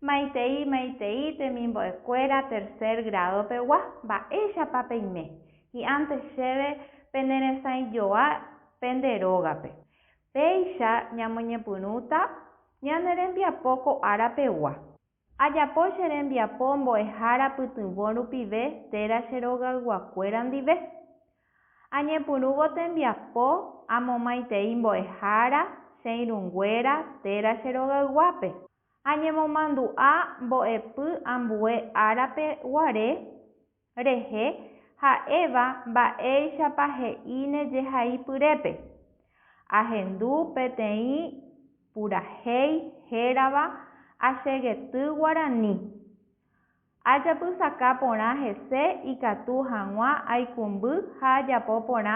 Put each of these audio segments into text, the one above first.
Maitei maitei temimbo'ekuéra tercer grado pegua, mba'éichapa peime, hi'ãnte chéve pene resãijoa pende rógape. Péicha ñamoñepyrũta ñane rembiapo ko ára pegua. Ajapo che rembiapo mbo'ehára pytyvõ rupive téra che rogayguakuéra ndive. Añepyrũvo tembiapo amomaitei mbo'ehára che irũnguéra téra che rogayguápe. Añemomandu'a mbo'epy ambue árape guare rehe ha'éva mba'éichapa he'íne jehaipyrépe, ahendu peteĩ purahéi hérava Achegety Guarani. Ajapysaka porã hese ikatu hag̃ua aikũmby ha ajapo porã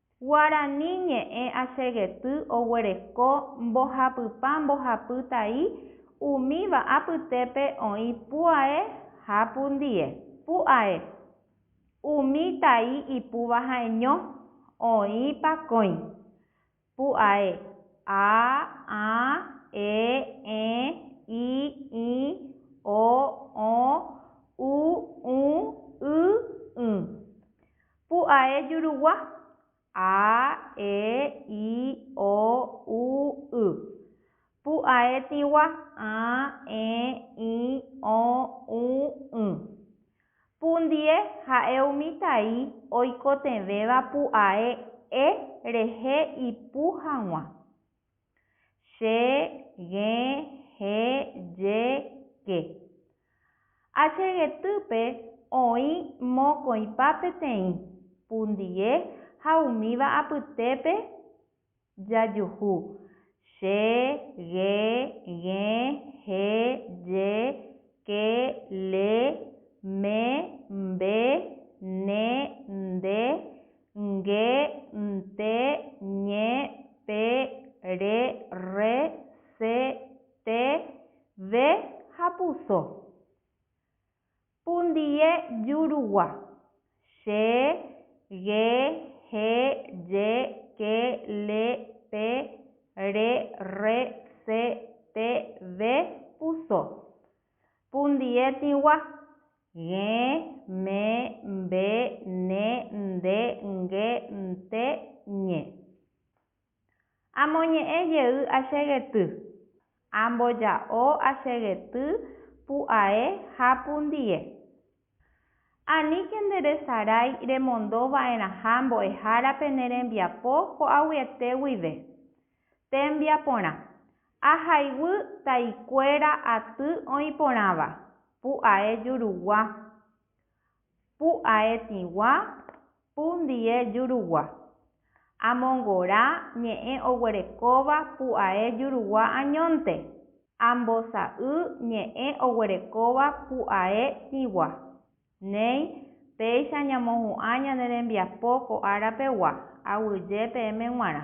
Guarani ñe'ẽ asegety oguereko mbohapypa mbohapy tai umíva apytépe oĩ pu'ae ha pundie. Pu'ae, umi tai ipúva ha'eño, oĩ pakõi. Pu'ae, a, ã, e, ẽ, i, ĩ, o, õ, u, ũ, y, ỹ. Pu'ae jurugua, a, e, i, o, u, y. Pu'ae tĩgua, ã, ẽ, ĩ, õ, ũ, ỹ. Pundie ha'e umi tai oikotevẽva pu'ae e rehe ipu hag̃ua. Che, g̃e, he, je, ke. A che getýpe oĩ mokõipa peteĩ, pundie ha umíva apytépe jajuhu, che, g̃e, g̃e, he, je, ke, le, me, mbe, ne, nde, nge, nte, ñe, pe, re, rre, se, te, ve ha puso. Pundie jurugua. Che, ge, he, je, ke, le, pe, re, rre, se, te, ve, puso. Pundie tĩgua. G̃e, me, mbe, ne, nde, nge, nte, ñe. Amoñe'ẽ jey achegety. Amboja'o achegety pu'ae ha pundie. Aníke nde resarái remondo va'erãha mbo'ehárape ne rembiapo ko'aguyete guive. Tembiaporã. Ahayhu taikuéra aty oĩporãva, pu'ae jurugua, pu'ae tĩgua, pu ndie jurugua. Amongora ñe'ẽ oguerekóva pu'ae jurugua añónte, ambosa'y ñe'ẽ oguerekóva pu'ae tĩgua. Néi, péicha ñamohu'ã ñane rembiapo ko ára pegua, aguyje peẽme g̃uarã.